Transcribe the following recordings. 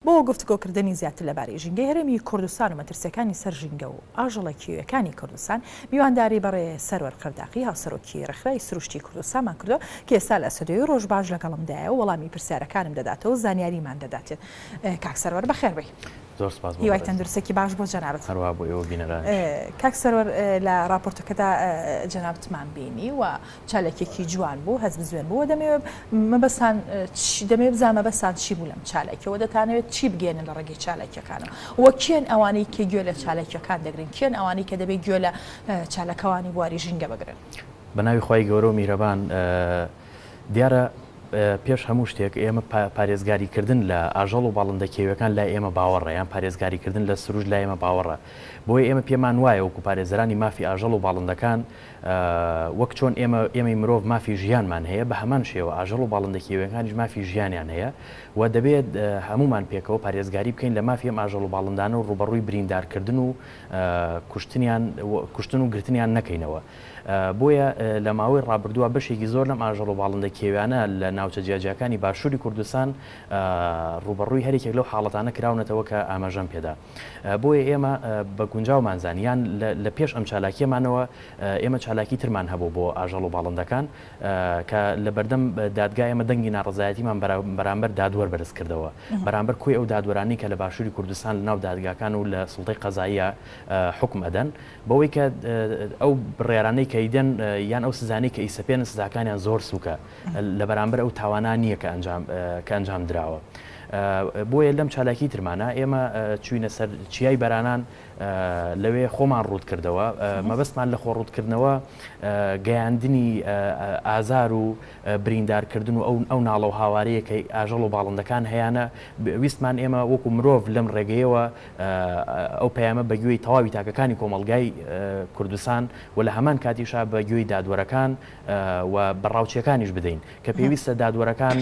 بۆ گفتوگۆکردنی زیاتر لەبارەی ژینگەی هەرێمی کوردستان و مەترسییەکانی سەر ژینگە و ئاژەڵە کێوییەکانی کوردستان، میوانداری بەڕێ سەروەر قەرداخی هاوسەرۆکی ڕێکخرای سروشتی کوردستانمان کردووە کە ئێستا لە ستۆدیۆی ڕۆژباش لەگەڵمدایە و وەڵامی پرسیارەکانم دەداتەوە و زانیاریمان دەدات. کاک سەروەر بەخێربێی. زۆر سپاس بۆ بەڕێزتان. هیوای تەندروستێکی باش بۆ جەنابت. هەروا بۆ ئێوە بینەرانیش. کاک سەروەر لە ڕاپۆرتەکەدا جەنابتمان بینی و، چالاکیەکی جوان بوو هەست بزوێن بوو دەمەوێ مەبەستان دەمەوێ بزان مەبەستان چی بوو لەم چالاکیەوە دەتانەوێت چی بگەێنن لە ڕێگەی چالاکیەکانەوە وە کێن ئەوانەی کە گوێ لە چالاکیەکان دەگرن کێن ئەوانەی کە دەبێت گوێ لە چالاکەوانی بواری ژینگە بگرن. بە ناوی خوای گەورەو میرەبان. دیارە پێش هەموو شتێک ئێمە پارێزگاری کردن لە ئاژەڵ و باڵندە کێویەکان لای ئێمە باوەڕە یان پارێزگاری کردن لە سروش لای ئێمە باوەڕە بۆیە ئێمە پێمان وایە وەکو پارێزەرانی مافی ئاژەڵ و باڵندەکان وەک چۆن ئێمە، ئێمەی مرۆڤ مافی ژیانمان هەیە، بە هەمان شێوە ئاژەڵ و باڵندە کێویەکانیش مافی ژیانیان هەیە و دەبێت هەموومان پێکەوە پارێزگاری بکەین لە مافی ئەم ئاژەڵ و باڵندانە و ڕووبەڕووی بریندارکردن و کوشتنیان، کوشتن و گرتنیان نەکەینەوە. بۆیە لە ماوەی ڕابردووە بەشێکی زۆر لەم ئاژەڵ و باڵندە کێویانە لە ناوچە جیاجیاکانی باشووری کوردستان ڕووبەڕووی هەر یەکێک لەو حاڵەتانە کراونەتەوە کە ئاماژەم پێدا. بۆیە ئێمە بە گونجاومان زانی یان لە پێش ئەم چالاکیەمانەوە ئێمە چالاکی ترمان هەبوو بۆ ئاژەڵ و باڵندەکان کە لە بەردەم دادگای ئەمە دەنگی ناڕزایەتیمان بەرامبەر دادوەر بەرز کردەوە بەرامبەر کۆی ئەو دادوەرانی کە لە باشووری کوردستان لە ناو دادگاکان و لە سڵتەی قەزاییە حکم ئەدەن بەوەی کە ئەو بڕێرانەی کەیدەن یان ئەو سزانەی کە ئیسەپێن سزاکانیان زۆر سوکە لە بەرامبەر ئەو تاوانان نییە کە ئەنجام کە ئەنجام دراوە. بۆیە لەم چالاکی ترمانا ئێمە چووینە سەر چیای بەرانان لەوێ خۆمان ڕووت کردەوە مەبەستمان لە خۆ ڕووتکردنەوە گەیاندنی ئازار و بریندارکردن و ئەو ئەو ناڵە و هاوارەیەکەی ئاژەڵ و باڵندەکان هەیەە ویستمان ئێمە وەکو مرۆڤ لەم ڕێگەیەوە ئەو پەیامە بەگوێی تەواوی تاکەکانی کۆمەلگای کوردستان و لە هەمان کاتیشا بەگوێی دادوەرەکان و بە ڕاوچیەکانیش بدەین کە پێویستە دادوەرەکان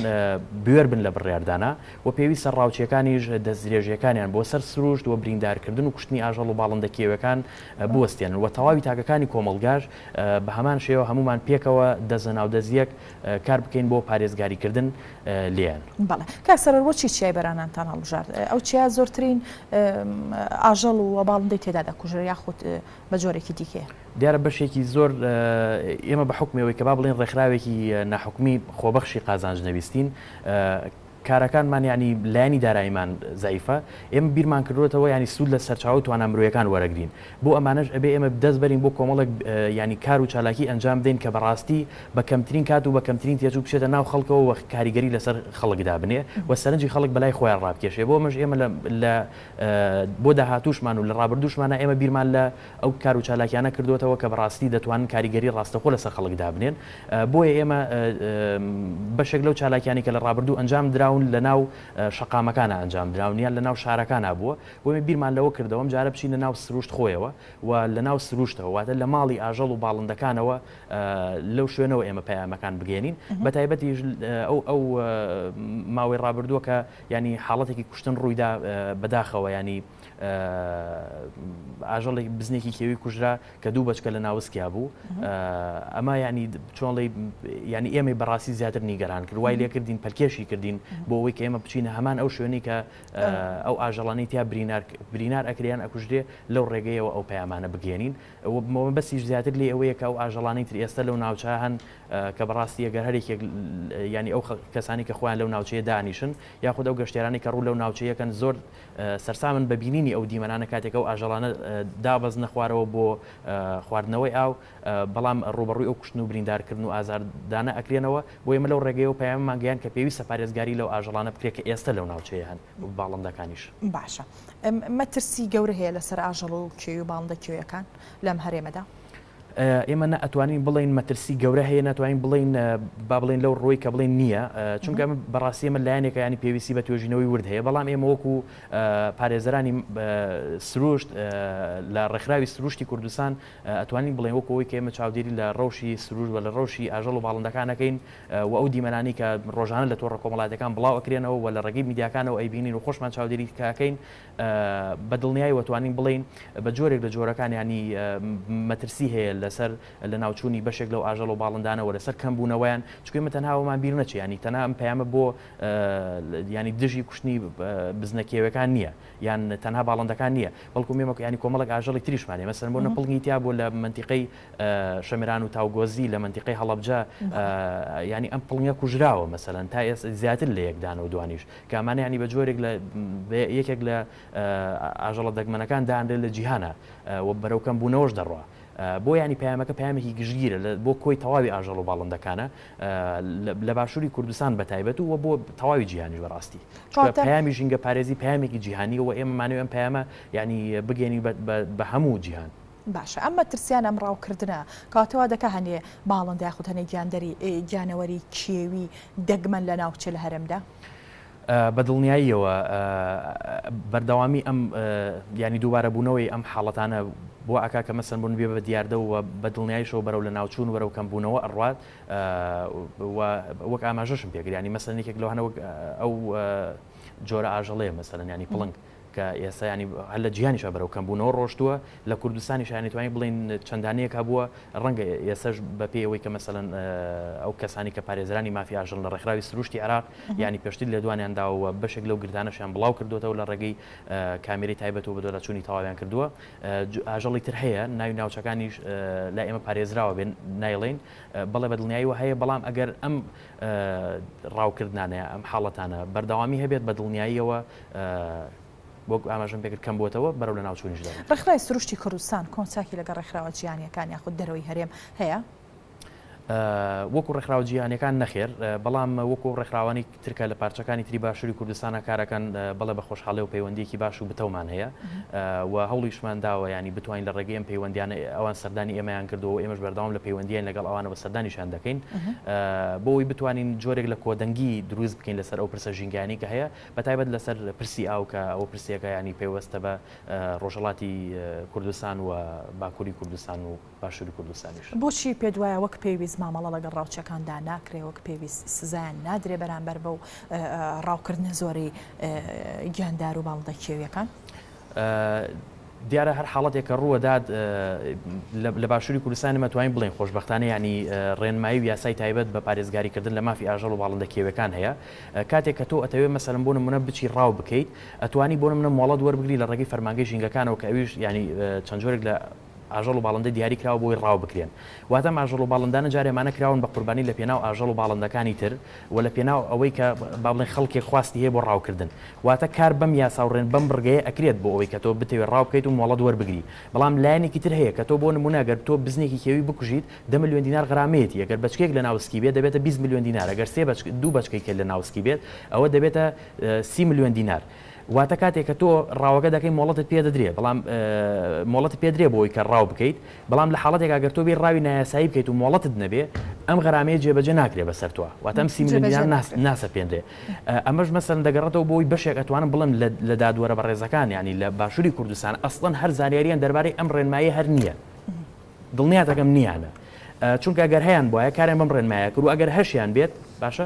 بوێر بن لە بڕیاردانا و پێویستە ڕاوچیەکانیش دەستدرێژیەکانیان بۆ سەر سروشت و بریندارکردن و کوشتنی ئاژەڵ و باڵندە کێویەکان بوەستێنن و تەواوی تاکەکانی کۆمەڵگاش بە هەمان شێوە هەموومان پێکەوە دەست لەناو دەست یەک کار بکەین بۆ پارێزگاریکردن لێیان. بەڵێ کاک سەرۆر بۆ چی چیای بەرانانتان هەڵبژارد؟ ئەو چیا زۆرترین ئاژەڵ و باڵندەی تێدا دەکوژرێ یاخود بە جۆرێکی دیکەیە. دیارە بەشێکی زۆر ئێمە بە حوکمی ئەوەی کە با بڵێن ڕێکخراوێکی ناحکومی خۆبەخشی قازانج نەویستین، کارەکانمان یانی لایەنی دارایمان زەعیفە، ئێمە بیرمان کردووەتەوە یانی سوود لە سەرچاوە و توانا مرۆیەکان وەرەگرین، بۆ ئەمانەش ئەبێ ئێمە دەست بەرین بۆ کۆمەڵێک یانی کار و چالاکی ئەنجام بدەین کە بەڕاستی بە کەمترین کات و بە کەمترین تێچوو بچێتە ناو خەڵکەوە و کاریگەری لەسەر خەڵک دابنێ و سەرنجی خەڵک بەلای خۆیان ڕابکێشێ، بۆ ئەمەش ئێمە لە بۆ داهاتووشمان و لە ڕابردووشمانا ئێمە بیرمان لە ئەو کار و چالاکیانە کردۆتەوە کە بەڕاستی دەتوانن کاریگەری ڕاستەخۆ لەسەر خەڵک دابنێن بۆیە ئێمە بەشێک لەو چالاکیانی کە لە ڕابردوو ئەنجام دراون لە ناو شەقامەکانە ئەنجام دراون یان لە ناو شارەکانە بووە بۆیە بیرمان لەوە کردەوە ئەم جارە بچینە ناو سروشت خۆیەوە و لە ناو سروشتەوە واتە لە ماڵی ئاژەڵ و باڵندەکانەوە لەو شوێنەوە ئێمە پەیامەکان بگەێنین بە تایبەتیش ئەو ئەو ماوەی ڕابردووە کە یانی حاڵەتێکی کوشتن ڕوویدا بەداخەوە یانی ئاژەڵێک بزنێکی کێوی کوژرا کە دوو بەچکە لە ناوسکیا بوو ئەمە یانی چۆڵی یانی ئێمەی بەڕاستی زیاتر نیگەران کرد وای لێکردین پەلکێشی کردین بۆ ئەوەی کە ئێمە بچینە هەمان ئەو شوێنی کە ئەو ئاژەڵانی تیا برینار برینار ئەکریان ئەکوژرێ لەو ڕێگەیەوە ئەو پەیامانە بگەێنین ئەوە بمەوە بەسیش زیاتر لێ ئەوەیە کە ئەو ئاژەڵانی تر ئێستا لەو ناوچە هەن کە بەڕاستی ئەگەر هەر یەکێک یانی ئەو کەسانی کە خۆیان لەو ناوچەیە دانیشن یاخود ئەو گەشتیارانەی کە ڕوو لەو ناوچەیەکەن زۆر سەرسامن بە بینینی ئەو دیمەنانە کاتێک ئەو ئاژەڵانە دابەزنە خوارەوە بۆ خواردنەوەی ئاو بەڵام ڕوبەڕووی ئەو کوشتن و بریندارکردن و ئازاردانە ئەکرێنەوە بۆ ئێمە لەو ڕێگەیەوە پەیاممان گەیان کە پێویستە پارێزگاری لەو ئاژەڵانە بکرێت کە ئێستا لەو ناوچەیە هەن باڵندەکانیش. باشە مەترسی گەورە هەیە لەسەر ئاژەڵ و کێوی و باڵندە کێویەکان لەم هەرێمەدا؟ ئێمە نە ئەتوانین بڵێین مەترسی گەورە هەیە ناتوانین بڵێین با بڵێن لەو ڕۆی کە بڵێن نییە چونکە بەڕاستی ئمە لایەنێکە ینی پێویستی بە توێژینەوەی ورد هەیە بەڵام ئێمە وەکو پارێزەرانی سروشت لە ڕێکخراوی سروشتی کوردستان ئەتوانین بڵێن وەکەوەی کە ئێمە چاودێری لە ڕەوشی سروشت بە لە ڕەوشی ئاژەڵ و باڵندەکانەکەین و ئەو دیمەنانی کە ڕۆژانە لە تۆڕە کۆمەڵاتەکان بڵاو ئەکرێنەوە و لە ڕێگەی میدیاکانەوە ئەیبینین و خۆشمان چاودێری کاکەین بە دڵنیایەوە توانین بڵێین بە جۆرێک لە جۆرەکان یانی مەترسی هەیە لەسەر لە ناوچوونی بەشێک لەو ئاژەڵ و باڵندانەوە لەسەر کەم بوونەوەیان چکێ مە تەنهاوەمان بیر نەچێ ینی تەنها ئەم پەیامە بۆ ینی دژی کوشتنی بزنە کێوەکان نییە یان تەنها باڵندەکان نییە بەڵکو مێمە ینی کۆمەڵک ئاژەڵی تریشمانێ مەسەر بۆ نەپڵنی تیا بۆ لە منتیقەی شەمران و تاوگۆزی لە منتیقەی هەڵبجە ینی ئەم پڵنگە کوژراوە مەسەەن تا ئێس زیاتر لە یەکدانەوە دوانیش کامانە یانی بە جۆرێک لە بە یەکێک لە ئاژەڵە دەگمەنەکان دانرێت لە جیهانا و بەرەو کەم بوونەوەش دەڕوا بۆ یانی پەیامەکە پەیامێکی گشتگیرە لە بۆ کۆی تەواوی ئاژەڵ و باڵندەکانە لە باشووری کوردستان بە تایبەت و بۆ تەواوی جیهانیش بەڕاستی چونکە پەیامی ژینگە پارێزی پەیامێکی جیهانی و ئێمە مانەوەی ئەم پەیامە یانی بگەێنی بە هەموو جیهان. باشە ئەم مەترسیان ئەم ڕاوکردنە کەواتە وا دەکا هەنێ باڵندە یاخود هەنێ گیاندەری گیانەوەری کێوی دەگمەن لە ناوچە لە هەرێمدا؟ بە دڵنیاییەوە بەردەوامی ئەم ینی دووبارەبوونەوەی ئەم حاڵەتانە بۆ ئاکا کە مەسن بوون بێ بە دیاردە و بە دڵنیایشەوە بەرەو لە ناوچوون وەرەو کەم بوونەوە ئەڕات وەک ئاماژەشم پێگریانی مەسەنێکێک لەوانەوە ئەو جۆرە ئاژەڵەیە مەسەرەنیانی پڵنگ کە ئێستا یانی هەر لە جیهانیشا بەرەو کەمبوونەوە ڕۆشتووە، لە کوردستانیشا یانی توانین بڵێین چەندانەیەک هەبووە، ڕەنگە ئێستەش بە پێی ئەوەی کە مەسەلەن ئەو کەسانەی کە پارێزەرانی مافی ئاژەڵن لە ڕێکخراوی سروشتی عێراق یانی پێشتر لێدوانیان داوە و بەشێک لەو گردانەشیان بڵاو کردووەتەوە لە ڕێگەی کامێرەی تایبەت و بەدواداچوونی تەواویان کردووە. ئاژەڵی تر هەیە ناوی ناوچەکانیش لای ئێمە پارێزراوە بێ نایڵێین بەڵێ بە دڵنیاییەوە هەیە، بەڵام ئەگەر ئەم ڕاوکردنانەیە ئەم حاڵەتانە بەردەوامی هەبێت بە دڵنیاییەوە وەک ئاماژەم پێکرد کەم بووەتەوە بەرەو لەناوچوونیش دەبن. ڕێکخراوی سروشتی کوردستان کۆن چاکی لەگەڵ ڕێکخراوە جیهانییەکان یاخود دەرەوەی هەرێم هەیە؟ وەکو ڕێکخراوە جیهانییەکان نەخێر، بەڵام وەکو ئەو ڕێکخراوانەی تر کە لە پارچەکانی تری باشووری کوردستانە کار ئەکەن بەڵێ بە خۆشحاڵی و پەیوەندییەکی باش و بتەومان هەیە و هەوڵیشمان داوە یانی بتوانین لە ڕێگەی ئەم پەیوەندییانە ئەوان سەردانی ئێمەیان کردووە و ئێمەش بەردەوام لە پەیوەندیین لەگەڵ ئەوانە سەردانیشیان دەکەین بۆ ئەوەی بتوانین جۆرێک لە کۆدەنگی دروست بکەین لەسەر ئەو پرسە ژینگانی کە هەیە بە تایبەت لەسەر پرسی ئاو کە ئەو پرسیەکە ینی پەیوەستە بە ڕۆژەڵاتی کوردستان و باکووری کوردستان و باشووری کوردستانیش بۆچی پێ دوایە وەک پێویست مامەڵە لەگەڵ ڕاوچەکاندا ناکرێ وەک پێویست سزایان نادرێ بەرامبەر بە و ڕاوکردنە زۆری گیاندار و باڵندە کێویەکان؟ دیارە هەر حاڵەتێک کە ڕووەدات لە باشووری کوردستان ئێمە توانین بڵێین خۆشبەختانە یانی ڕێنمایی و یاسای تایبەت بە پارێزگاری کردن لە مافی ئاژەڵ و باڵندە کێویەکان هەیە کاتێک کە تۆ ئەتەوێت مەسەلەن بۆ نمونە بچی ڕاو بکەیت ئەتوانی بۆ نمونە مۆڵەت وەربگری لە ڕێگەی فەرمانگەی ژینگەکانەوە کە ئەویش یانی چەند جۆرێک لە ئاژەڵ و باڵندە دیاری کراوە بۆی ڕاو بکرێن واتە ئەم ئاژەڵ و باڵندانە جارێ مانە کراون بە قوربانی لە پێناو ئاژەڵ و باڵندەکانی تر و لە پێناو ئەوەی کە با بڵێن خەڵکێک خواستی هەیە بۆ ڕاو کردن واتە کار بەم یاسا و ڕێن بەم بڕگەیە ئەکرێت بۆ ئەوەی کە تۆ بتەوێت ڕاو بکەیت و مۆڵەت وەربگری بەڵام لایەنێکی تر هەیە کە تۆ بۆ نموونە گەر تۆ بزنێکی کێوی بکوژیت دە ملیۆن دینار غرامەیەتی ئەگەر بەچکەیەک لە ناوسکی بێت دەبێتە بیست ملیۆن دینار ئەگەر سێ بەچک دوو بەچکەی کێل لە ناوسکی بێت ئەوە دەبێتە سی ملیۆن دینار واتە کاتێک کە تۆ ڕاوەکە دەکەی مۆڵەتت پێ دەدرێ بەڵام مۆڵەت پێ درێ بۆی کە ڕاو بکەیت بەڵام لە حاڵەتێک ئەگەر تۆ بێ ڕاوی نایاسایی بکەیت و مۆڵەتت نەبێ ئەم غەرامەیە جێبەجێ ناکرێ بەسەر تۆ واتەم سیمیلیان ناسە پێندرێ ئەمەش مەسەن دەگەڕێتەوە بۆی بەشێک ئەتوانم بڵم لە دادوەرە بەڕێزەکان ینی لە باشووری کوردستان ئەسڵەن هەر زانیاریان دەربارەی ئەم ڕێنمایی هەر نییە دڵنیاتەکەم نییانە چونکە گەر هەیان بواە کارێن بم ڕێنمایە کرد و ئەگەر هەشیان بێت باشە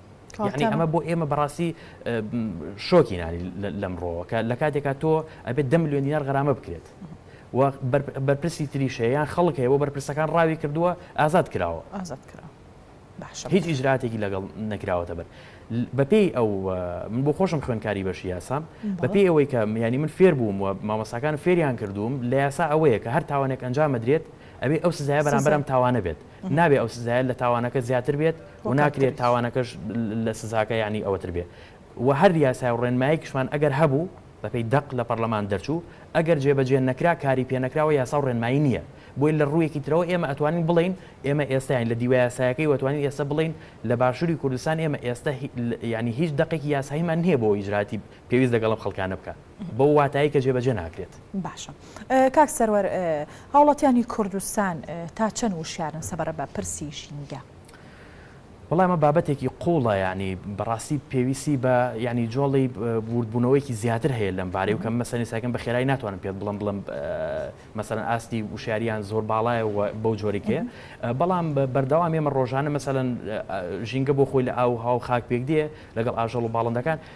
یعنی ئەمە بۆ ئێمە بەڕاستی شۆکی نانی لەمڕۆوە کە لە کاتێکا تۆ ئەبێت دە میلیۆن دینار غرامە بکرێت بەرپرسی تریشەیان خەڵک هەیە بۆ بەرپرسەکان ڕاوی کردووە ئازاد کراوە ئازاد کرا هیچ ئیجراتێکی لەگەڵ نەکراوەتە بەر بەپێی ئەو من بۆ خۆشم خوێنکاری بەشی یاسام بەپێی ئەوەی کە میانی من فێر بووم و مامەساکان فێریان کردووم لە یاسا ئەوەیە کە هەر تاوانێک ئەنجامەدرێت ئەوێ ئەو سزای بەرامبەرم تاوانە بێت نابێ ئەو سزایە لە تاوانەکە زیاتر بێت و ناکرێت تاوانەکەش لە سزاکە یانی ئەوەتر بێ و هەر یاسای و ڕێنمایەکیشمان ئەگەر هەبوو بەپێی دەق لە پەڕلەمان دەرچوو ئەگەر جێبەجێ نەکرا کاری پێ نەکراوە یاسا و ڕێنمایی نییە بۆیە لە ڕوویەکی ترەوە ئێمە ئەتوانین بڵێین ئێمە ئێستا یانی لە دیوە یاسایەکەی و ئەتوانین ئێستا بڵێین لە باشووری کوردستان ئێمە ئێستا یانی هیچ دەقێکی یاساییمان نییە بۆ ئەوەی ئیجراتی پێویست لەگەڵ ئەم خەڵکانە بکات. بەو واتایەی کە جێبەجێ ناکرێت. باشە کاک سەروەر هاوڵاتیانی کوردستان تا چەند وشیارن سەبارەت بە پرسی ژینگە؟ وەڵا ئەمە بابەتێکی قوڵە یانی بەڕاستی پێویستی بە ینی جۆڵی وردبوونەوەیکی زیاتر هەیە لەم بارەی و کەم مەسەنی ساکەم بە خێرای ناتوانم پێت بڵم بڵم مەسەن ئاستی وشاریان زۆر باڵایە و بەو جۆریکەیە بەڵام بەردەوام ئێمە ڕۆژانە مەسەن ژینگە بۆ خۆی لە ئاو هاو خاک پێک دێ لەگەڵ ئاژەڵ و باڵندەکان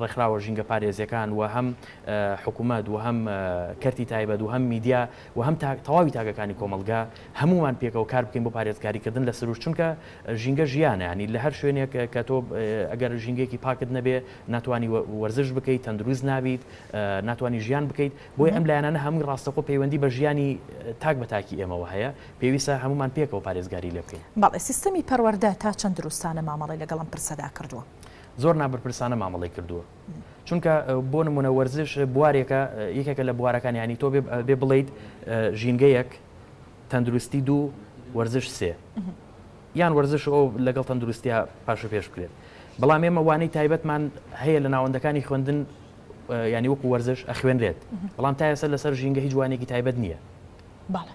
ڕێکخراوە ژینگەپارێزیەکان و هەم حکومەت و هەم کەرتی تایبەت و هەم میدیا و هەم تەواوی تاکەکانی کۆمەڵگا هەمووان پێکەوە کار بکەین بۆ پارێزگاری کردن لە سروشت چونکە ژینگە ژیانە ینی لە هەر شوێنێک کە تۆ ئەگەر ژینگەیەکی پاکت نەبێ ناتوانی وەرزش بکەیت تەندروست نابیت ناتوانی ژیان بکەیت بۆی ئەم لایەنانە هەمووی ڕاستەخۆ پەیوەندی بە ژیانی تاک بە تاکی ئێمەوە هەیە پێویستە هەموومان پێکەوە پارێزگاری لێ بکەین. بەڵێ سیستەمی پەروەردە تا چەند دروستانە مامەڵەی لەگەڵ ئەم پرسەدا کردووە؟ زۆر نابەرپرسانە مامەڵەی کردووە چونکە بۆ نمونە وەرزش بوارێکە یەکێکە لە بوارەکان ینی تۆ بێ بڵیت ژینگەیەک تەندروستی دوو وەرزش سێ یان وەرزش ئەو لەگەڵ تەندروستیا پاش و پێش بکرێت بەڵام ئێمە وانەی تایبەتمان هەیە لە ناوەندەکانی خوێندن ینی وەکو وەرزش ئەخوێنرێت بەڵام تا ئێستا لەسەر ژینگە هیچ جوانێکی تایبەت نییە باڵێ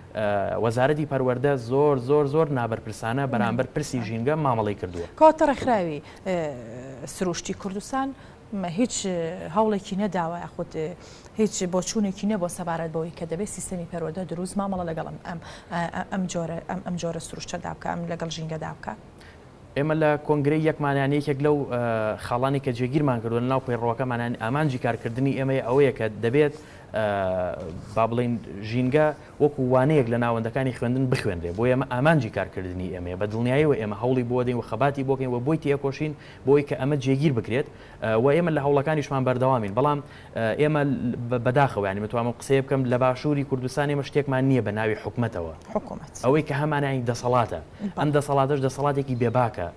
وەزارەتی پەروەردە زۆر زۆر زۆر نابەرپرسانە بەرامبەر پرسی ژینگە مامەڵەی کردووە. کەواتە ڕێکخراوی سروشتی کوردستان هیچ هەوڵێکی نەداوە یاخود هیچ بۆچوونێکی نیە بۆ سەبارەت بەوەی کە دەبێت سیستەمی پەروەردە دروست مامەڵە لەگەڵ ئەم ئەم جۆرە ئەم جۆرە سروشتەدا بکە ئەم لەگەڵ ژینگەدا بکە؟ ئێمە لە کۆنگرەی یەکمانیان یەکێک لەو خاڵانەی کە جێگیرمان کردووە لەناو پەیڕەوەکەمانیان ئامانجی کارکردنی ئێمەی ئەوەیە کە دەبێت با بڵێین ژینگە وەکو وانەیەک لە ناوەندەکانی خوێندن بخوێنرێ بۆ ئێمە ئامانجی کارکردنی ئێمەیە بە دڵنیایەوە ئێمە هەوڵی بۆ دەین و خەباتی بۆکەین و بۆی تێکۆشین بۆی کە ئەمە جێگیر بکرێت و ئێمە لە هەوڵەکانیشمان بەردەوامین بەڵام ئێمە بەداخەوە یانی بتوانم ئەم قسەیە بکەم لە باشووری کوردستان ئێمە شتێکمان نییە بە ناوی حکومەتەوە. حکومەت. ئەوەی کە هەمانە یانی دەسەڵاتە. ئەم دەسەڵاتەش دەسەڵاتێکی بێ باکە.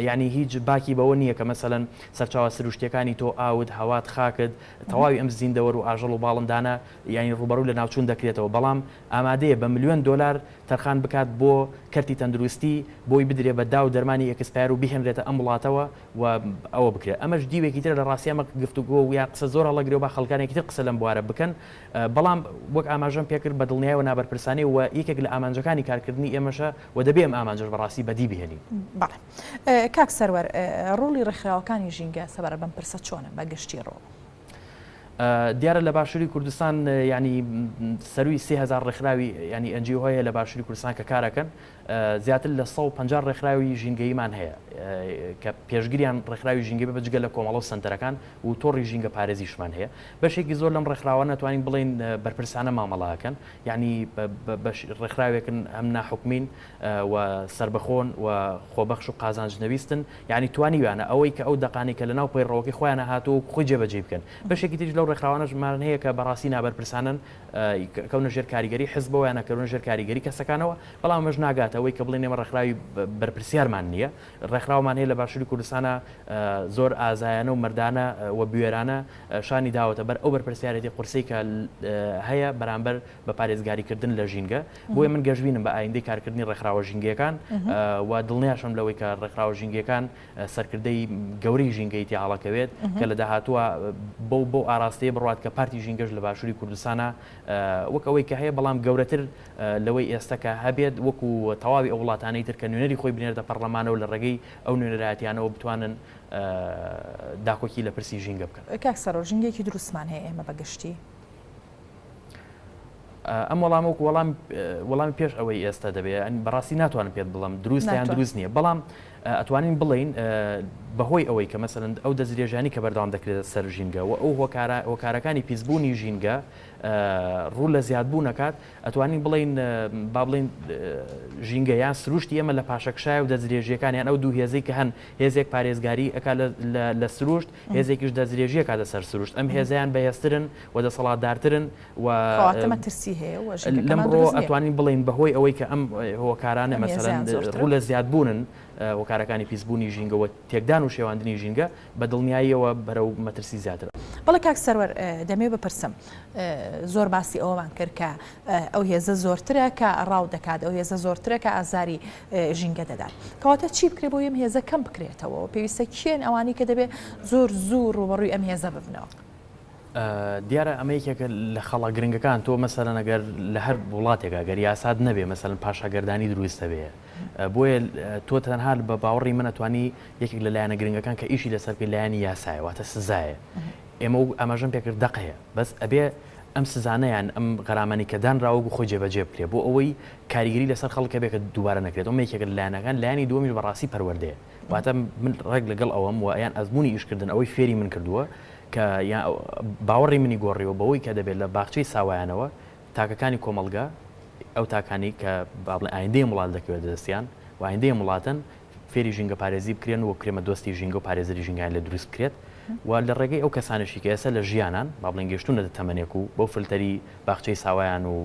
یانی هیچ باکی بەوە نییە کە مەسەلەن سەرچاوە سروشتییەکانی تۆ، ئاوت، هەوات، خاکت، تەواوی ئەم زیندەوەر و ئاژەڵ و باڵندانە یانی ڕووبەڕووی لەناوچوون دەکرێتەوە بەڵام ئامادەیە بە ملیۆن دۆلار تەرخان بکات بۆ کەرتی تەندروستی بۆی بدرێ بە داو دەرمانی ئێکسپایەر و بیهێنرێتە ئەم وڵاتەوە و ئەوە بکرێت ئەمەش دیوێکی ترە لە ڕاستی ئەمە گفتوگۆ و یا قسە زۆر هەڵەگرێ و با خەڵکانێکی تر قسە لەم بوارە بکەن بەڵام وەک ئاماژەم پێکرد بە دڵنیایەوە نابەرپرسانەیە و یەکێک لە ئامانجەکانی کارکردنی ئێمەشە و دەبێ ئەم ئامانجەش بە ڕاستی بەدی بهێنین. بەڵێ کاک سەروەر ڕۆڵی ڕێکخراوەکانی ژینگە سەبارەت بەم پرسە چۆنە بە گشتی ڕۆڵ؟ دیارە لە باشووری کوردستان یانی سەرووی سێ هەزار ڕێکخراوی یانی ئەن جی ئۆ هەیە لە باشووری کوردستان کە کارەکەن زیاتر لە سەد و پەنجا ڕێکخراوی ژینگەییمان هەیە کە پێشگریان ڕێکخراوی ژینگە بێ جگە لە کۆمەڵە و سەنتەرەکان و تۆڕی ژینگە پارێزیشمان هەیە بەشێکی زۆر لەم ڕێکخراوانە ئەتوانین بڵێین بەرپرسانە مامەڵە ئەکەن یانی ڕێکخراوێکن هەم ناحکومین و سەربەخۆن و خۆبەخش و قازانج نەویستن یانی توانیویانە ئەوەی کە ئەو دەقانەی کە لەناو پەیڕەوەکەی خۆیانە هاتووە خۆی جێبەجێی بکەن بەشێکی تریش لەو ڕێکخراوانەشمان هەیە کە بەڕاستی نابەرپرسانەن کەونە ژێر کاریگەری حزبەوە یان ئەکەونە ژێر کاریگەری کەسەکانەوە، بەڵام ئەمەش ناگاتە ئەوەی کە بڵێین ئێمە ڕێکخراوی بەرپرسیارمان نییە، ڕێکخراومان هەیە لە باشوری کوردستانا زۆر ئازایانە و مەردانە و بوێرانە شانی داوەتە بەر ئەو بەرپرسیارێتی قورسەی کە هەیە بەرامبەر بە پارێزگاری کردن لە ژینگە، بۆیە من گەشبینم بە ئایندەی کارکردنی ڕێکخراوە ژینگەیەکان و دڵنیاشم لەوەی کە ڕێکخراوە ژینگەکان سەرکردەی گەورەی ژینگەی تێ هەڵەکەوێت کە لە داهاتووە بەو بەو ئاراستەیە بڕات کە پارتی ژینگەش لە باشووری کوردستانە وەک ئەوەی کە هەیە بەڵام گەورەتر لەوەی ئێستا کە هەبێت وەکو تەواوی ئەو وڵاتانەی تر کە نوێنەری خۆی بنێردە پەرلەمانەوە لە ڕێگەی ئەو نوێنەرایەتیانەوە بتوانن داکۆکی لە پرسی ژینگە بکەن. کاک سرۆ ژینگەیەکی دروستمان هەیە ئێمە بە گشتی. ئەم وەڵامە وەکو وەڵام وەڵامی پێش ئەوەی ئێستا دەبێت ئەن بەڕاستی ناتوانم پێت بڵم دروست یان دروست نییە بەڵام ئەتوانین بڵین بەهۆی ئەوەی کە مەسەرند ئەو دەستێژانی کە بەردەوام دەکرێت سەر ژینگە و ئەو هۆکارە هۆکارەکانی پیسبوونی ژینگە ڕوو لە زیادبوو نەکات ئەتوانین بڵین با بڵین ژینگە یان سروشتی ئێمە لە پاشەکشای و دەستێژیەکانیان ئەو دوو هێزی کە هەن هێزێک پارێزگاری ئەک لە سروشت هێزێکیش دەستێژیە کاتە سەر سروشت ئەم هێزیان بەهێسترن و دەسەڵاتدارترن کەواتە مەترسی هەیە و ژینگەکەمان دروست نییە. لەم ڕووەوە ئەتوانین بڵێین بەهۆی ئەوەی کە ئەم هۆکارانە مەسەلەن ڕوو لە زیادبوونن هۆکارەکانی پیسبوونی ژینگە و تێکدان و شێواندنی ژینگە بە دڵنیاییەوە بەرەو مەترسی زیاترە. بەڵێ کاک سەروەر دەمەوێ بپرسم زۆر باسی ئەوەمان کرد کە ئەو هێزە زۆرترە کە ڕاو دەکات، ئەو هێزە زۆرترە کە ئازاری ژینگە دەدات. کەواتە چی بکرێ بۆی ئەم هێزە کەم بکرێتەوە و پێویستە کێن ئەوانەی کە دەبێ زۆر زوو ڕووبەڕووی ئەم هێزە ببنەوە؟ دیارە ئەمە یەکێکە لە خەڵە گرنگەکان تۆ مەسەرەن ئەگەر لە هەر وڵاتێکا گەر یاساد نەبێ مەسەن پاشاگەردانی دروستە بێ بۆیە تۆ تەنها بە باوەڕی منە توانی یەکێک لە لایەنە گرنگەکان کە ئیشی لەسەر پێ لایەنی یاسایەواتە سزایە ئێمە و ئەمەژەم پێکرد دەقەیە بەس ئەبێ ئەم سزانیان ئەم غەرامانی کە دان راوەگو خۆی جێبەجێ بکرێ بۆ ئەوەی کاریگەری لەسەر خەڵکە بێکە دووبارە نەکرێت ئەو یەکێک لایەنەکان لایانی دومیش بەڕاستی پەروەردەیە واتە من ڕێک لەگەڵ ئەوەم و یان ئەزموونی ئیشکردن ئەوەی فێری من کردووە کە یان باوەڕی منی گۆڕیوە بەوەی کە دەبێت لە باخچەی ساوایانەوە تاکەکانی کۆمەڵگە ئەو تاکانەی کە با بڵێن ئایندەی ئەم وڵاتە دەکەوێتە دەستیان و ئایندەی ئەم وڵاتەن فێری ژینگەپارێزی بکرێن و وەک کرێمەدۆستی ژینگە و پارێزەری ژینگەیان لێ دروست بکرێت و لە ڕێگەی ئەو کەسانەشی کە ئێستا لە ژیانان با بڵێن گەیشتوونەتە تەمەنێک و بەو فلتەری باخچەی ساوایان و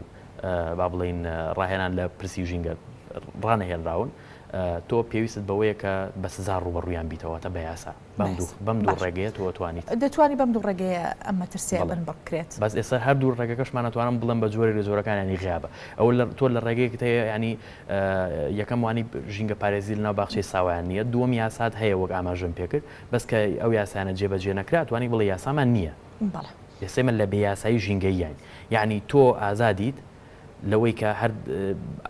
با بڵێین ڕاهێنان لە پرسی ژینگە ڕانەهێنراون تۆ پێویستت بەوەیە کە بە سزا ڕووبەڕوویان بیتەوە، واتە بە یاسا. بەم دوو بەم دوو ڕێگەیە تۆ ئەتوانیت. دەتوانی بەم دوو ڕێگەیە ئەم مەترسییە بەڵێ. بنبڕ بکرێت. بەس ئێستا هەر دوو ڕێگەکەشمان ئەتوانم بڵێم بە جۆرێک لە جۆرەکان یانی غیابە. ئەوە لە تۆ لە ڕێگەیەکت هەیە یانی یەکەم وانی ژینگە پارێزی لەناو باخچەی ساوایان نییە، دووەم یاسات هەیە وەک ئاماژەم پێ کرد، بەس کە ئەو یاسایانە جێ بە جێ نەکرا ئەتوانی بڵێی یاسامان نییە. بەڵێ. ئێستا ئێمە لە بێ یاسایی ژینگەییاین. یانی تۆ ئازادیت، لەوەی کە هەر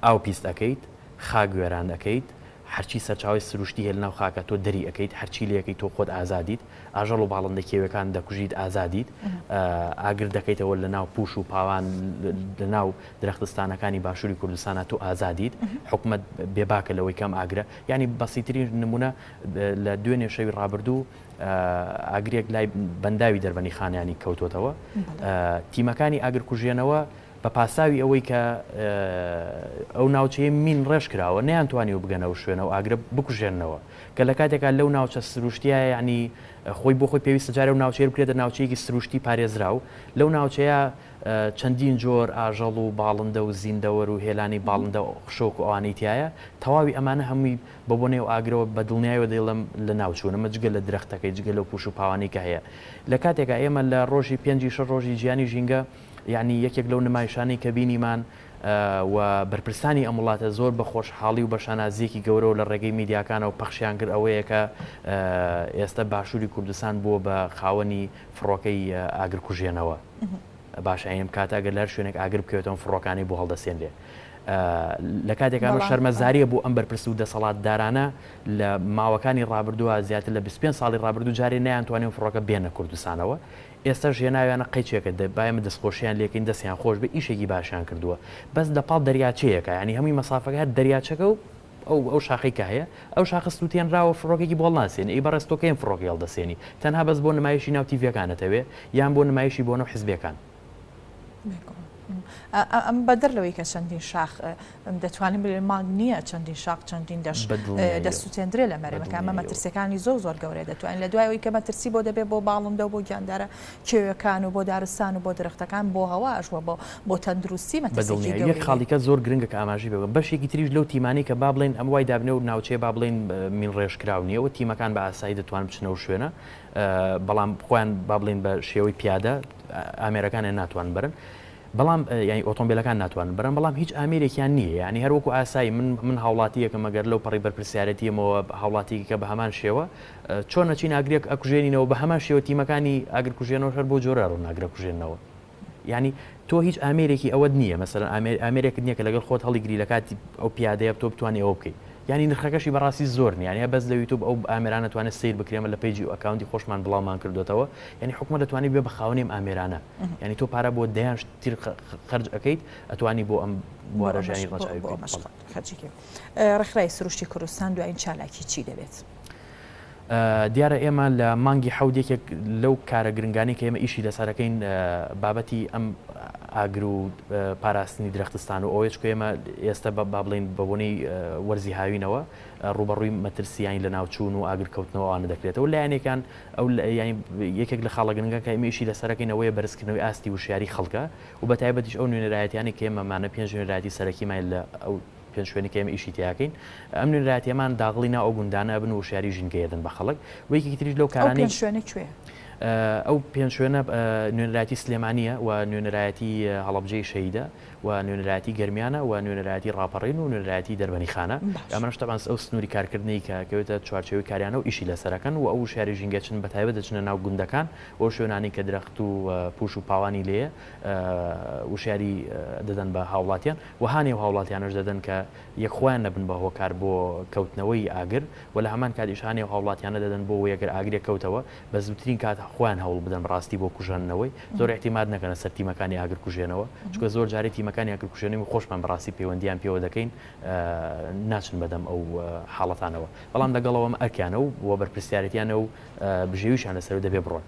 ئاو پیست ئەکەیت خاک وێران ئەکەیت هەرچی سەرچاوەی سروشتی هەیە لەناو خاکە تۆ دەری ئەکەیت هەرچی لەکەیت تۆ خۆت ئازادیت ئاژەڵ و باڵندە کێویەکان دەکوژیت ئازادیت ئاگر دەکەیتەوە لەناو پوش و پاوان لەناو درەختستانەکانی باشووری کوردستانە تۆ ئازادیت حکومت بێباکە لەوەی کەم ئاگرە ینی بەسیترین نمونە لە دوێنێ شەوی ڕابردوو ئاگرێک لای بەنداوی دەربەنی خانیانی کەوتوتەوە تیمەکانی ئاگرکوژێنەوە بە پاساوی ئەوەی کە ئەو ناوچەیە مین ڕێژ کراوە نەیانتوانی و بگەنە و شوێنە و ئاگرە بکوژێنەوە کە لە کاتێکا لەو ناوچە سروشتیە یعنی خۆی بۆ خۆی پێویستە جارێ و ناوچەیە بکرێتە ناوچەیەکی سروشتی پارێزراو لەو ناوچەیە چەندین جۆر ئاژەڵ و باڵندە و زیندەوەر و هێلانی باڵندە و خشۆک و ئەوانەی تایە تەواوی ئەمانە هەمووی بە بۆ نێو ئاگرەوە بە دڵنیایەوە دەیڵم لە ناوچوونە مە جگە لە درەختەکەی جگە لەو پوش و پاوانی کە هەیە لە کاتێکا ئێمە لە ڕۆژی پێنجی شەر ڕۆژی جیانی ژینگە یانی یەکێک لەو نمایشانەی کە بینیمان و بەرپرسانی ئەم وڵاتە زۆر بە خۆشحاڵی و بە شانازییەکی گەورەوە لە ڕێگەی میدیاکانەوە پەخشیان کرد ئەوەیە کە ئێستا باشووری کوردستان بووە بە خاوەنی فڕۆکەی ئاگرکوژێنەوە. باشە ئەم کاتە گەر لەر شوێنێک ئاگر بکەوێتەوە فڕۆکانی بۆ هەڵدەسێنرێ لە کاتێکانە شەرمەزاریە بۆ ئەم بەرپرس و دەسەڵاتدارانە لە ماوەکانی ڕابردووە زیاتر لە 25 ساڵی ڕابردوو جارێ نیان توانێن فڕۆکە بێنە کوردستانەوە ئێستاش هێناویانە قەیچێکە دە با ئێمە دەستخۆشیان لێ کەین دەستیان خۆش بێ ئیشێکی باشیان کردووە بەس لە پاڵ دەریاچەیەکە یانی هەمووی مەسافەکە هەر دەریاچەکە و ئەو ئەو شاخەی کە هەیە ئەو شاخە سووتێنراوە فڕۆکێکی بۆ هەڵناسێنێ ئەی بەڕێز تۆ کەین فڕۆکەی هەڵدەسێنی تەنها بەس بۆ نمایشی ناو تیڤیەکان ئەتەوێ یان بۆ نمایشی بۆ نەو حزبێکان ئەمە بەدەر لەوەی کە چەندین شاخ دەتوانین بڵێن مانگ نییە چەندین شاخ چەندین دەش دەسووتێندرێ لە مەرەکە ئەمە مەترسیەکانی زۆر زۆر گەورەیە دەتوانین لە دوایەوەی کە مەترسی بۆ دەبێت بۆ باڵندە و بۆ گیاندارە کێوەکان و بۆ دارستان و بۆ درختەکان بۆ هەواش وە بۆ بۆ تەندروستی مەترسی خاڵیکە زۆر گرنگە کە ئاماژی بگەم بەشێکی تریش لەو تیمانی کە با بڵێن ئەم وای دابنێ و ناوچەیە با بڵێن مین ڕێژکراو نییە و تیمەکان بە ئاسایی دەتوان بچنەوە شوێنە بەڵام خۆیان با بڵین بە شێوەی پیادە ئامێرەکانیان ناتوان برن بەڵام یعنی ئۆتۆمبیلەکان ناتوان برن بەڵام هیچ ئامێرێکیان نییە ینی هەروەکو ئاسایی من من هاوڵاتیەکە مەگەر لەو پەڕی بەرپسیارەتیەمەوە هاوڵاتیکە بە هەمان شێوە چۆن نەچین ئاگرێک ئەکوژێنینەوە بە هەمان شێوە تیمەکانی ئاگرکوژێنەوە هەر بۆ جۆرە ڕووناگرە کوژێنەوە یانی تۆ هیچ ئامێرێکی ئەوەت نییە مەسەرەن ئامێر ئامێرێکت نییە کە لەگەڵ خۆت هەڵیگری لە کاتی ئەو پیادەیە تۆ بتوانانی ئەوە بکەیت یانی نرخەکەشی بەڕاستی زۆر نیانە بەس لە یوتوب ئەو ئامێرانە توانێت سیر بکرێمە لە پیجی و ئەکاونتی خۆشمان بڵاومان کردوێتەوە یعنی حکومە دەتوانانی بێ بە خاونێم ئامێرانە یعنی تۆ پارە بۆ دەیان تیر خرج ئەەکەیت ئەتوانی بۆ ئەم بوارەژانی ڕەخرای سروشتی کوردستان دوایین چالاکی چی دەبێت؟ دیارە ئێمە لە مانگی حەوت یەکێک لەو کارە گرنگانەی کە ئێمە ئیشی لەسەرەکەین بابەتی ئەم ئاگر و پاراستنی درەختستان و ئەوەیەچکە ئێمە ئێستە بە بابلین بەبنەی وەرزی هاوینەوە ڕوبەڕووی مەترسیانی لە ناوچوون و ئاگر کەوتنەوەوانە دەکرێتەوە لایەنێکان ئەو یەکێک لە خاڵە گرنگە کە ئێمە ئیشی لەسەرەکەینەوەی بەرزکردنەوەی ئاستی وشیاری خەڵکە و بە تایبەتیش ئەو نوێنەرایەتیانی کە ئێمەمانە پێنج نوێنەرایەتی سەرەکیمان لە ئەو پێنج شوێنی کە ئێمە ئیشی تیاکەین ئەم نوێنەرایەتیەمان داغڵی ناو ئەو گوندانە ئەبن وشیاری ژینگە دەن بە خەڵک و یەکی تریش لەو کارانی شوێنە کوێ ئەو پێنج شوێنە نوێنەرایەتی سلێمانە و نوێنەرایەتی هەڵبجەی شەیدە و نوێنەرایەتی گەرمیانە و نوێنەرایەتی ڕاپەڕین و نوێنەرایەتی دەربەنی خانە ئەمەش تەبان ئەو سنووری کارکردنی کە کەوێتە چوارچەوەی کاریانە و ئیشی لەسەرەکەن و ئەو شاری ژینگەچن بە تایبەت دەچنە ناو گوندەکان بۆ شوێنانی کە درەخت و پوش و پاوانی لێ وشیاری دەدەن بە هاوڵاتیان و هانی ئەو هاوڵاتیانەش دەدەن کە یەک خۆیان نەبن بە هۆکار بۆ کەوتنەوەی ئاگر و لە هەمان کاتیش هانی ئەو هاوڵاتیانە دەدەن بۆ وەی ئەگەر ئاگرێک کەوتەوە بە زووترین کات خۆیان هەوڵ بدەن بەڕاستی بۆ کوژەنەوەی زۆر ئیعتیماد نەکەنە سەر تیمەکانی ئاگر کوژێنەوە چونکە زۆر جاری تیمەکانی ئاگر کوژێنەوی خۆشمان بەڕاستی پەیوەندیان پێوە دەکەین ناچن بەدەم ئەو حاڵەتانەوە بەڵام لەگەڵ ئەوەم ئەرکیانە و وە بەرپرسیارێتیانە و بژێویشان لەسەر و دەبێ بڕۆن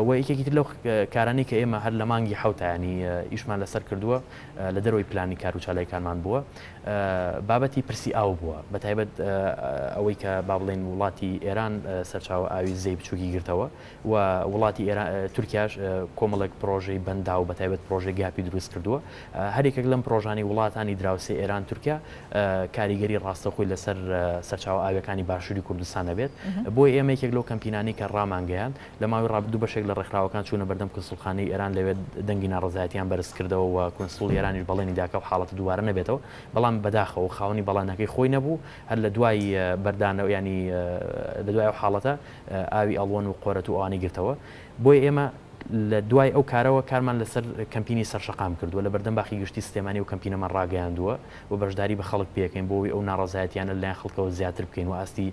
وە یەکێکی تر لەو کارانەی کە ئێمە هەر لە مانگی حەوتایانی ئیشمان لەسەر کردووە لە دەرەوەی پلانی کار و چالاکیکارمان بووە بابەتی پرسی ئاو بووە بە تایبەت ئەوەی کە با بڵێن وڵاتی ئێران سەرچاوە ئاوی زێی بچووکی گرتەوە و وڵاتی تورکیاش کۆمەڵێک پرۆژەی بەندا و بە تایبەت پرۆژەی گاپی دروست کردووە هەرێکێک لەم پرۆژانی وڵاتانی دراوسێ ئێران تورکیا کاریگەری ڕاستەخۆی لەسەر سەرچاوە ئاوەکانی باشووری کوردستان نەبێت بۆی ئێمە یەکێک لەو کەمپینانی کە ڕامانگەیان لە ماوەی ڕابردوو بەشێک لە ڕێکخراوەکان چوونە بەردەم کونسوڵخانەی ئێران لەوێ دەنگی ناڕەزایەتییان بەرز کردەوە و کونسوڵی ئێرانیش بەڵێنی دا کە ئەو حاڵەتە دووبارە نەبێتەوە بەڵام بەداخەوە خاوەنی بەڵێنەکەی خۆی نەبوو هەر لە دوای بەردانەوە یانی لە دوای ئەو حاڵەتە ئاوی ئەڵوەن و قۆرەت و ئەوانەی گرتەوە بۆیە ئێمە لە دوای ئەو کارەوە کارمان لەسەر کەمپینی سەر شەقام کردووە لە بەردەم باخی گشتی سلێمانی ئەو کەمپینەمان ڕاگەیاندووە و بەشداری بە خەڵک پێکەین بۆ ئەوی ئەو ناڕەزایەتییانە لەلایەن خەڵکەوە زیاتر بکەین و ئاستی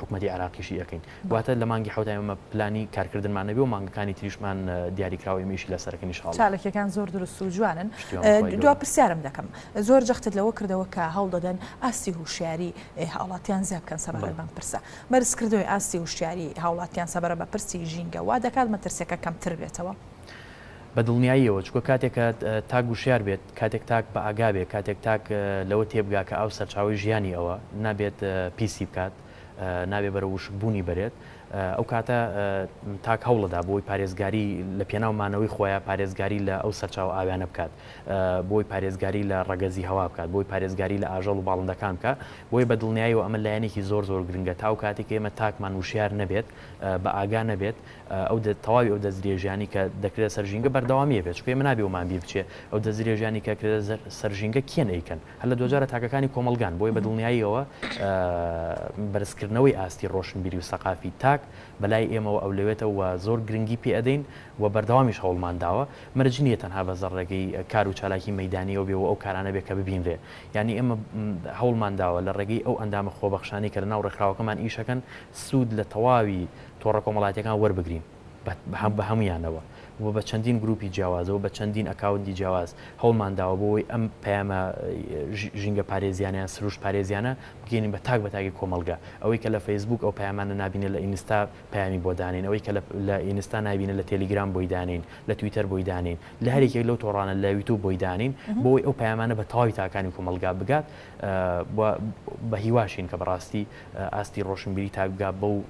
حکومەتی عراقیشی ئەکەین واتە لە مانگی حوت ئێمە پلانی کارکردنمان نەبێ و مانگەکانی تریشمان دیاریکراوە ئێمەیشی لەسەرەکەنی شاڵ چاالکیەکان زۆر دروست و جوانن دو پرسیارم دەکەم زۆر جەختت لەوە کردەوە کە هەڵ دەدەن ئاستی هوشیاری هاوڵاتیان زیاد بکەن سەبارە بەم پرسە بەرزکردنەوەی ئاستی هوشیاری هاوڵاتیان سەبارە بە پرسی ژینگە وا دەکات مەترسیەکە کەمتر بێتەوە بە دڵنیاییەوە، چونکە کاتێک کە تاک وشیار بێت، کاتێک تاک بە ئاگا بێت، کاتێک تاک لەوە تێبگا کە ئاو سەرچاوەی ژیانی ئەوە، نابێت پیسی بکات، نابێت بەرەو وشک بوونی بەرێت، ئەو کاتە تاک هەوڵەدا بۆی پارێزگاری لە پێناو مانەوەی خۆیا پارێزگاری لە ئەو سەرچاوە ئاویانە بکات، بۆی پارێزگاری لە ڕەگەزی هەوا بکات، بۆی پارێزگاری لە ئاژەڵ و باڵندەکان بکات، بۆیە بە دڵنیاییەوە ئەمە لایەنێکی زۆر زۆر گرنگە تا ئەو کاتەی کە ئێمە تاکمان وشیار نەبێت، بە ئاگا نەبێت، ئەو تەواوی ئەو دەستدرێژیانەی کە دەکرێتە سەر ژینگە بەردەوامی هەبێت، چونکە ئێمە نابێ وەمان بیر بچێ ئەو دەستدرێژیانەی کە کرێتە سەر ژینگە کێن ئەیکەن، هەر لە دواجارە تاکەکانی کۆمەڵگان، بۆیە بە دڵنیاییەوە بەرزکردنەوەی ئاستی ڕۆشنبیری و سەقافی تاک بە لای ئێمەوە ئەولەوێتە و زۆر گرنگی پێ ئەدەین و بەردەوامیش هەوڵمان داوە، مەرج نییە تەنها بەس لە ڕێگەی کار و چالاکی مەیدانییەوە بێ و ئەو کارانە بێ کە ببینرێ، یانی ئێمە هەوڵمان داوە لە ڕێگەی ئەو ئەندامە خۆبەخشانەی کە لە ناو ڕێکخراوەکەمان ئیش ئەکەن سوود لە تەواوی تۆڕە کۆمەڵاتیەکان وەربگرین بە هەموویانەوە و بە چەندین گروپی جیاوازەوە بە چەندین ئەکاونتی جیاواز هەوڵمان داوە بۆ ئەوەی ئەم پەیامە ژینگە پارێزیانە یان سروشت پارێزیانە بگەینین بە تاک بە تاکی کۆمەڵگە ئەوەی کە لە فەیسبووک ئەو پەیامانە نابینێت لە ئینستا پەیامی بۆ دانێین ئەوەی کە لە ئینستا نابینێت لە تێلیگرام بۆی دانێین لە تویتەر بۆی دانێین لە هەر یەکێک لەو تۆڕانە لە یوتوب بۆی دانێین بۆ ئەوەی ئەو پەیامانە بە تەواوی تاکانی کۆمەڵگا بگات بە هیواشین کە بەڕاستی ئاستی ڕۆشنبیری تاک بگات بەو